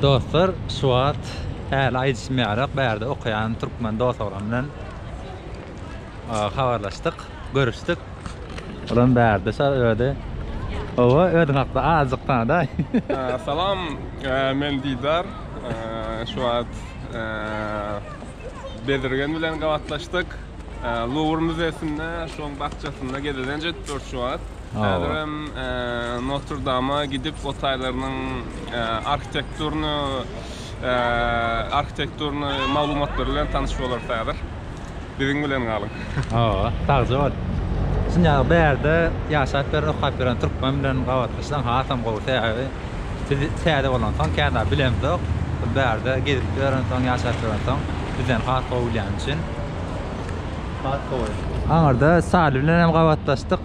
Dostlar şu wagt häli aýdyşym ýalyok bärde okaýan türkmen dos oglan bilen habarlaşdyk görüşdik. Olam bärde şo öde owo özüň hakda azjyk tanadaý. Salam men Didar şu wagt Bezirgen bilen gabatlaşdyk Luwr müzesinde şoň bakjasynda gezelenç edip durus şu wagt. Häzirem Notr-Dama gidip, o taýlarynyň arhitekturny arhitekturny maglumatlary bilen tanyş bolarys häzir. Biziň bilen galyň. Hawa, sagja bol. Şun ýaly bärde ýaşap ýören, okap ýören türkmen bilen gabatlaşsaň hasam gowy. Sebäbi biz täze bolansoň kän zat bilemzok. Bu bärde gezip ýörensoň, ýaşap ýörensoň bizden has gowy bilýän üçin has gowy. Aňyrda Sali bilen hem gabatlaşdyk.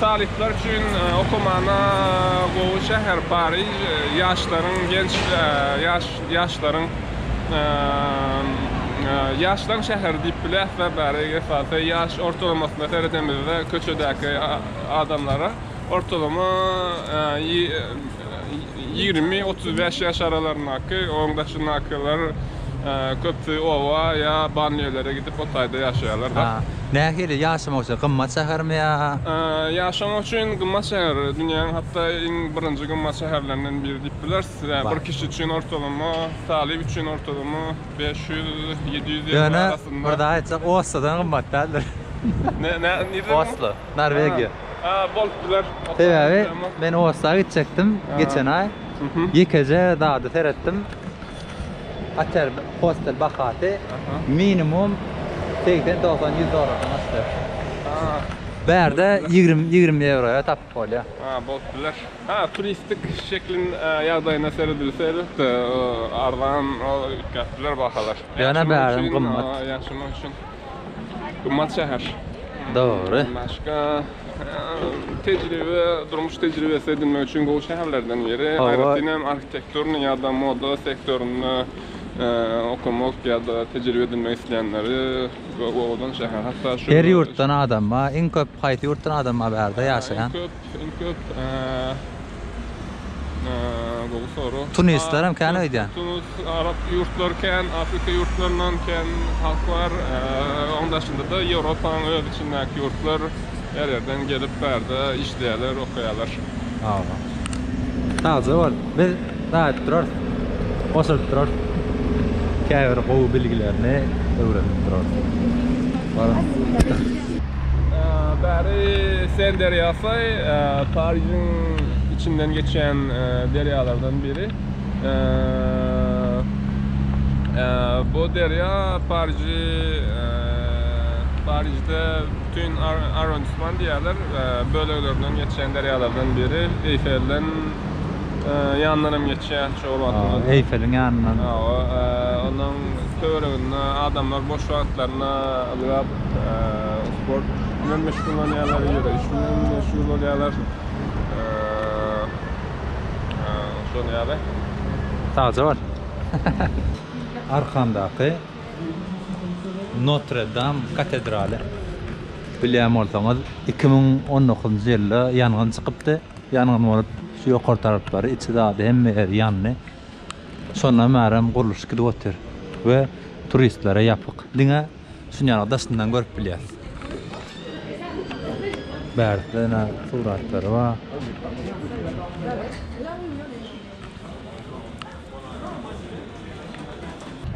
Talyplar üçin okumana gowy şäher Pariž. Ýaşlaryň, genç ýaşlaryň, ýaşlaň şäheri diýip biläs-de bäri esasy. Ýaş ortalamasyna seredemizde köçedäki adamlara ortalama. Ýigrimi, otuz bäş ýaş aralaryndaky, oň daşyndakylar köpüsi oba ýa banlýölere gidip o taýda ýaşaýarlar da. Nähili ýaşamak üçin gymmat şähermi ýa? Ýaşamak üçin gymmat şäher. Dünýäň hatda iň birinji gymmat şäherlerinden biri diýip bileris. Bir kişi üçin ortalama, talyp üçin ortalama bäş ýüz, ýedi ýüz ýewro arasynda. Ýöne bir zat aýtjak, Oslodan gymmat däldir. Nireden gymmat? Oslo, Norwegiýa. Bolup biler. Sebäbi men Osta gitjekdim geçen aý. Ýekeje zady seretdim. Otel, hostel bahasy minimum segsen, dogsan, ýüz dollardan aşýar. Bärde ýigrimi, ýigrimi ýewroýa tapyp bolýar. Bolup biler. Hä, turistik şekliň ýagdaýyna seredilse elbetde arzan, üýtgäp biler bahalar. Ýöne bärem gymmat. Ýaşamak üçin. Gymmat şäher. Dogry. Başga tejribe, durmuş tejribesi edinmek üçin gowy şäherlerden biri. Aýratyn hem arhitekturny ýa-da moda sektorynda okamak ýa-da tejribe edinmek isleýänleri gowy şäher. Hatda şu Her ýurtdan adam bar. Iň köp haýsy ýurtdan adam bar bu ýerde ýaşaýan? Iň köp gowy soru. Tunisler hem kän öýdýän. Tunis, arap ýurtlary kän, afrika ýurtlaryndan kän halk bar. Oň daşynda-da Ýewropanyň öz içindäki ýurtlar her ýerden gelip bärde işleýärler, okaýarlar. Sagja bol. Biz Daýyp durarys, goşulyp durarys. Käbir gowy bilgilerini öwrenip durarys. Baryň. Bäri Sen derýasy Parižiň içinden geçýän derýalardan biri. Bu derýa Pariji Parijde bütin arrondisman diýýärler böleglerinden geçýän derýalardan biri. Eýfelden ýanyndanam geçýär şol wagtymda. Aa, Eýfeliň ýanyndan. Hawa, onuň töwereginde adamlar boş wagtlaryna ylgap, sport bilen meşgullanýarlar, ýöreýiş bilen meşgul bolýarlar. Şol ýaly. Sagja bol. Arkandaky Notre Dame katedraly. Bilýän bolsaňyz, iki müň on dokuzynjy ýylda ýangyn çykypdy. Ýangyn bolup, şu ýokary taraplary, içi zady hemme ýeri ýandy. Şondan bärem gurluşyk gidip otyr we turistlere ýapyk. Diňe şunýaly daşyndan görüp bilýäs. Bärde ýene suratlary bar.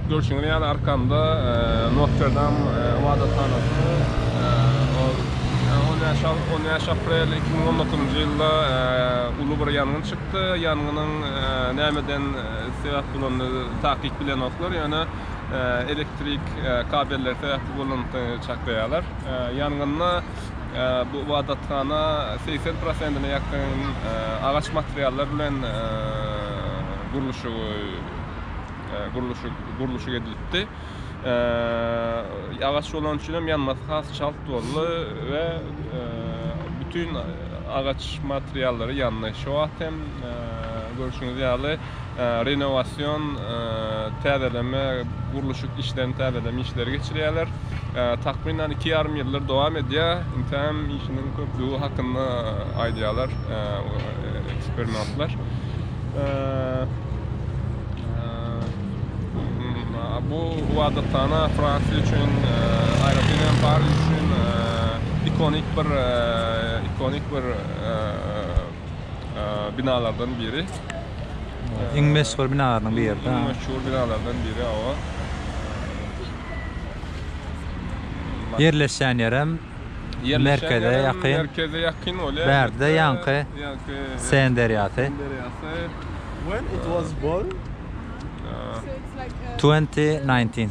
Görşüňiz ýaly arkamda Notrdam ybadathanasy. On bäş aprel iki müň on dokuzynjy ýylda uly bir ýangyn çykdy. Ýangynyň nämeden sebäp bolany takyk bilenoklar, ýöne elektrik kabelleri sebäpli bolandygyny çaklaýarlar. Ýangynda Bu ybadathana segsen prosentine ýakyn agaç materiallar bilen gurluşyk edilipdi. Agaç bolany üçin hem ýanmasy has çalt boldy we bütin agaç materiallary ýandy. Şu wagt hem görşüňiz ýaly renowasion, täzeleme, gurluşyk işlerini täzeleme işleri geçirýärler. Takmynan iki ýarym ýyldyr dowam edýär. Intäm işiniň köplügi hakynda aýdýarlar ekspernatlar. Bu ibadathana Fransiýa üçin, aýratyn hem Pariž üçin ikonik bir ikonik bir binalardan biri. Iň meşhur binalarynyň biri. Iň meşhur binalardan biri awa. Ýerleşýän ýerem merkeze ýakyn. Merkeze ýakyn bolýar. Bärde ýaňky Sen derýasy. Sen derýasy. When it was born? 2019.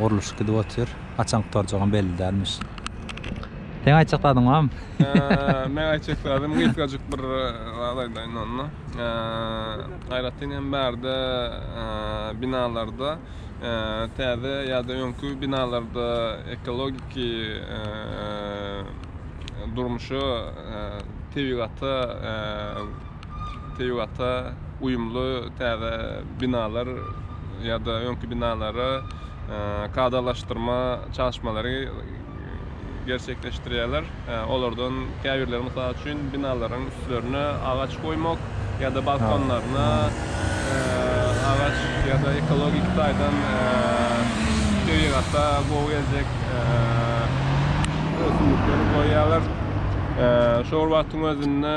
Gurluşyk gidip otyr. Haçan gutarjagam belli dälmiş. Seň aýtjak zadyň barmy? Meň aýtjak zadym gysgajyk bir zat aýdaýyn onda. Aýratyn hem bärde binalarda täze ýa-da öňki binalarda ekologik durmuşa, tebigata tebigata uýumly täze binalar ýa-da öňki binalara kadalaşdyrma çalyşmalary gerçekleşdirýärler. Olardan käbirleri mysal üçin binalaryň üstlerine agaç goýmak ýa-da balkonlaryna agaç ýa-da ekologik taýdan tebigata gowy geljek ösümlikleri goýýarlar. Şol wagtyň özünde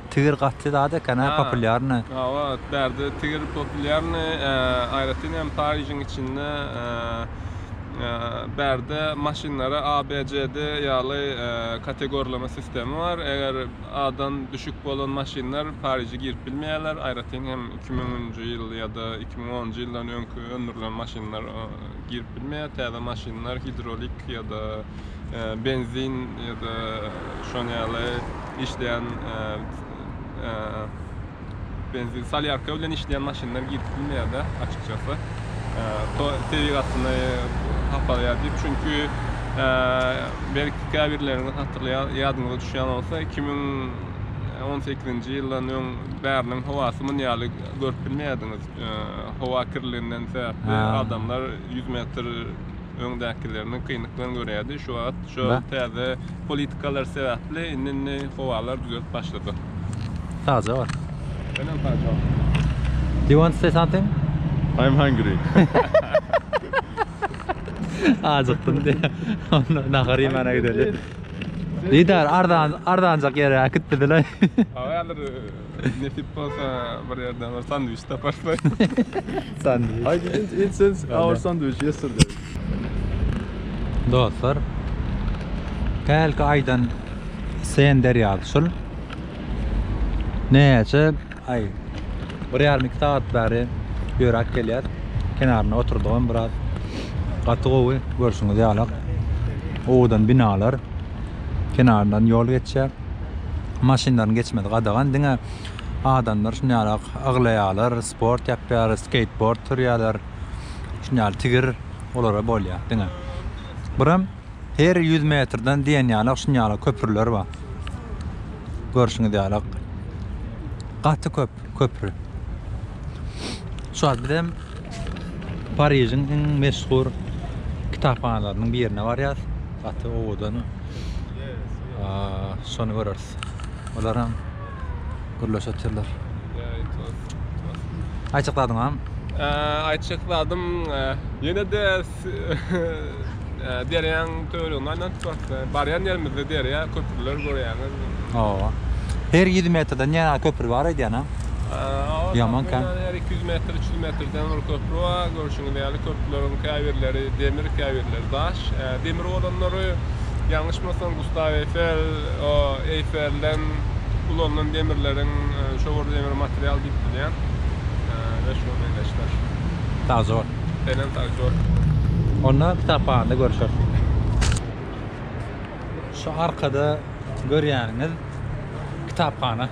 Tigir gaty zat eken hä populýarny. Hawa bärde tigir populýarny aýratyn hem Parižiň içinde bärde maşynlara ABCD ýaly kategorlama sistemi bar eger A-dan düşük bolan maşynlar Pariže girip bilmeýärler aýratyn hem iki müňünji ýyl ýa-da iki müň onunjy ýyldan öňki öndürilen maşynlar girip bilmeýär täze maşynlar hidrolik ýa-da benzin ýa-da şoň ýaly işleýän benzin salýarka bilen işleýän maşynlar girip bilmeýärdi açykçası. Tebigatyny hapalaýar diýip. Çünki belki käbirleriňiz hatyrlaýar, ýadyňyza düşýän bolsa 2018-nji ýyldan öň bäriniň howasy muny ýaly görüp bilmeýärdiňiz. Howa kirliginden sebäpli adamlar 100 metr öňdäkilerini kynlyk bilen görýärdi. Şu wagt şu täze politikalar sebäpli indi-indi howalar düzelip başladyk. Sagja bol. Senem sagja bol. Do you want to say something? I'm hungry. Ajykdym diýýär. Onda nahar iýmäne gideli. Didar arzan arzanjak ýere äkitdi diler. Hawa häzir Nesip bolsa bir yerden bir sandviç taparlar. Sandviç. I didn't eat since our sandwich yesterday. Dostlar, hälki aýdan Sen derýasy şul. Näçe aý, bir ýarym iki sagat bäri ýöräp gelýär. Kenarynda oturdygam biraz. Gaty gowy, görşüňiz ýalak. Owadan binalar, kenaryndan ýol geçýär. Maşynlaryň geçmesi gadagan, diňe adamlar şuny ýaly aglaýarlar, sport ýapýarlar, skeýtbord sürýärler. Şuny ýaly tigir olara bolýar diňe. Buram her ýüz metrden diýen ýaly şuny ýaly köprüler bar. Görşüňiz ýaly gaty köp köpri. Şu wagt bizem Parižiň iň meşhur kitaphanalarynyň birine barýas. Gaty owadan. Şony göreris. Olaram gürleşe oturlar. Aýtjak zadyňam? Aýtjak zadym ýene-de Derýaň töwereginde aýlanyp barka, barýan ýerimizde derýa, köprüler görýäňiz. Hawa. Her ýüz metrden ýene köpri bar aýdýan-a. Ýaman kän. Her iki ýüz metr, üç ýüz metrden bir köpri bar. Görşüňiz ýaly, köprüleriň käbirleri demir, käbirleri daş. Demir bolanlary, ýalňyşmasam, Gustaw Eýfel, o Eýfelden ulanylan demirleriň, şo bir demir material diýip bilýän. Meşhur meňzeşler. Sagja bol. Belent aktýor. Onda kitaphanda görüşeris. Şu arkada görýäniňiz kitaphana.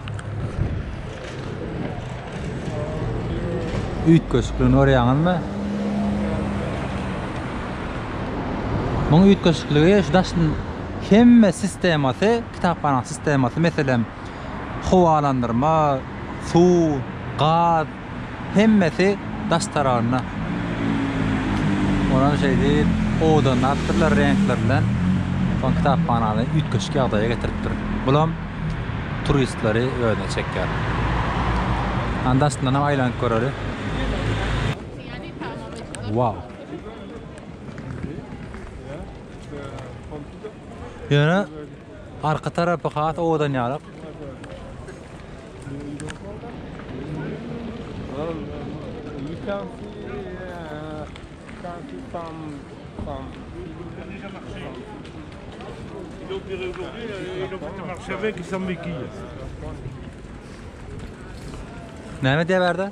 Üýtgeşikligini görýäňizmi? Muň üýtgeşikligi şu daş hemme sistemasy, kitaphana sistemasy, meselem, howalandyrma, suw, gaz, hemmesi daş taragynda. Olar şeýdip, owadanlapdyrlar reňkler bilen. Soň kitaphanany üýtgeşik ýagdaýa getiripdir. Bulam turistleri özüne çekýär. Anda astyndanam aýlanyp göreli. Wow! Ýöne Arka tarapy has owadan ýarak. Näme diýýär bärde?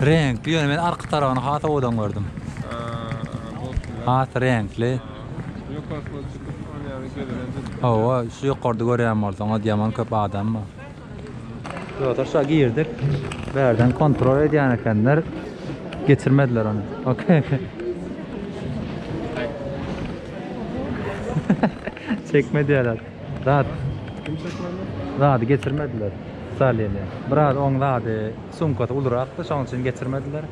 Reňkli ýöne men arka tarabyny has owadan gördüm. Has reňkli. Hawa, şu ýokarda görýän bolsaňyz ýaman köp adam bar. Dostlar, şa girdik. Bärden kontrol edýän ekenler. Geçirmediler ony. Okey. Çekme diýerler. Zat. Kim çekmedi? Zady getirmediler. Salini. Biraz oň zady sumkasy ulurakdy, şoň üçin getirmediler.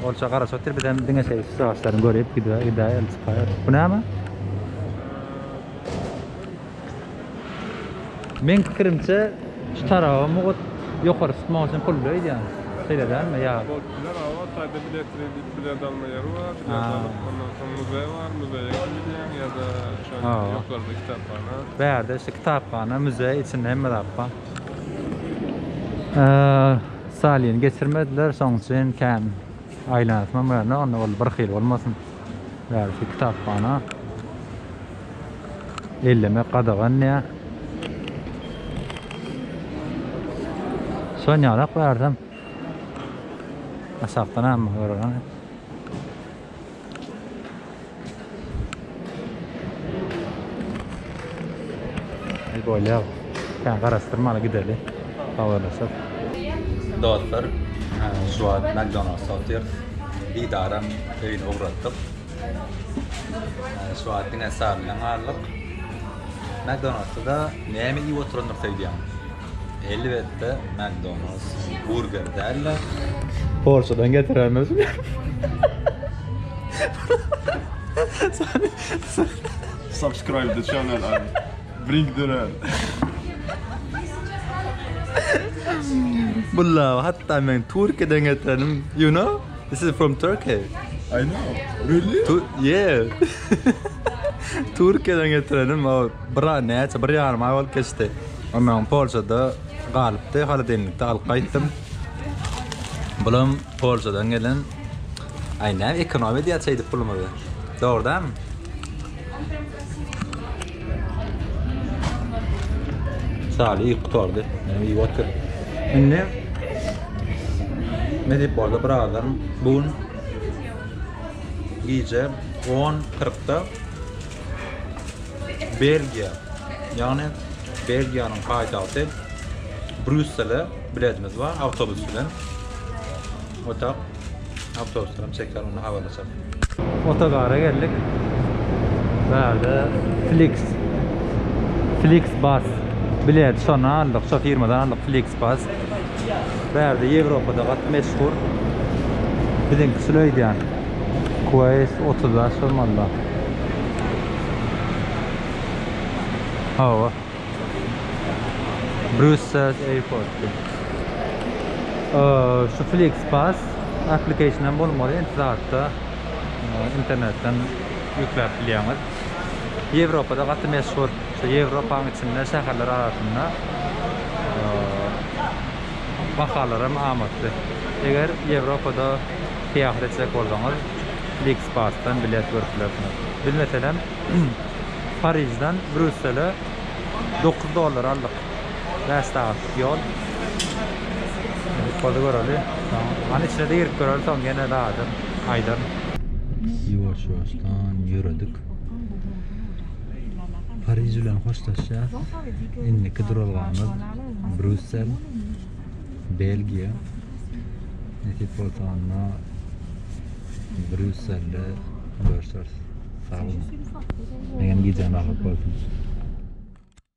Olça garaş otyr bizem diňe şeýle üstaşlaryny görüp gidä gidä elçypaýar. Bu näme? Men pikirimçe şu taraba mugut ýokary tutmak üçin pul öýdýän. Şeýle dälmi ýa? Bolup biler aga, taýda bilet redi Bilet alma ýeri bar, bilet alyp, ondan soň muzeý bar, muzeýe ýaly gidýäň ýa-da şo ýokarda kitaphana. Bärde şu kitaphana, muzeý, içinde hemme zat bar. Stalini geçirmediler, şoň üçin kän aýlanasym hem gelmedi, onda ol bir hili bolmasyn. Bärde şu kitaphana. Ellemek gadagan diýýär. Şonýalak bärdem. Aşakdan hem görülen. El bolýar. Sen garaşdyrmaly gideli. Habarlaşyp. Dostlar, şu wagt McDonald's otyr. Didaram öýüne ugratdyk. Şu wagt diňe Sary bilen galdyk. McDonald's-da näme iýip oturandyr söýdýäň? Elbetde McDonald's burger däl-de. Polşadan getirendir. Subscribe the channel and bring the red. Bulla hatta men Türkiye'den getirenim. You know? This is from Turkey. I know. Really? Tu yeah. Türkiye'den getirenim. Bir aý, näçe, bir ýarym aý bolup geçdi. Ömrüm Polşada galypdy, holodenlikde alyp gaýtdym. Bulam Polşadan gelen. Aý, näme ekonom edýär şeýdip pulumyzy. Dogry dälmi? Şaly iýip gutardy. Menem iýip otur. Indi ne diýip boldy birazdan bu gün gije 10.40-da Belgiýa, ýagny Belgiýanyň paýtagty Brýussele biletimiz bar awtobus bilen. Otag awtobus bilen çeker, onda habarlaşar. Otogara geldik. Bu ýerde Flix Flix Bus bilet şondan aldyk, şo firmadan aldyk Flix Bus. Bärde Ýewropada gaty meşhur. Biziňki şuly öýdýän. QS 30 da şol malla. Hawa. Brüssel airport. Şu FlixPass application hem bolmaly, internetden ýükläp bilýäňiz. Ýewropada gaty meşhur, şu Ýewropanyň içinde şäherler arasynda bahalar hem amatly. Eger Ýewropada syýahat etjek bolsaňyz Flixbusdan bilet görüp bilersiňiz. Biz meselem Parižden Brýussele dokuz dollara aldyk. Bäş sagatlyk ýol. Ýoly göreli. Hany içine girip göreli soň ýene daýdan aýdan. Ýuwaş-ýuwaşdan ýöredik. Pariž bilen hoşlaşýas. Indiki duralgamyz Brüssel, Belgiýa. Nesip bolsa onda Brüsselde görüşeris. Sag boluň. Meňem gijäm agyr bolsun.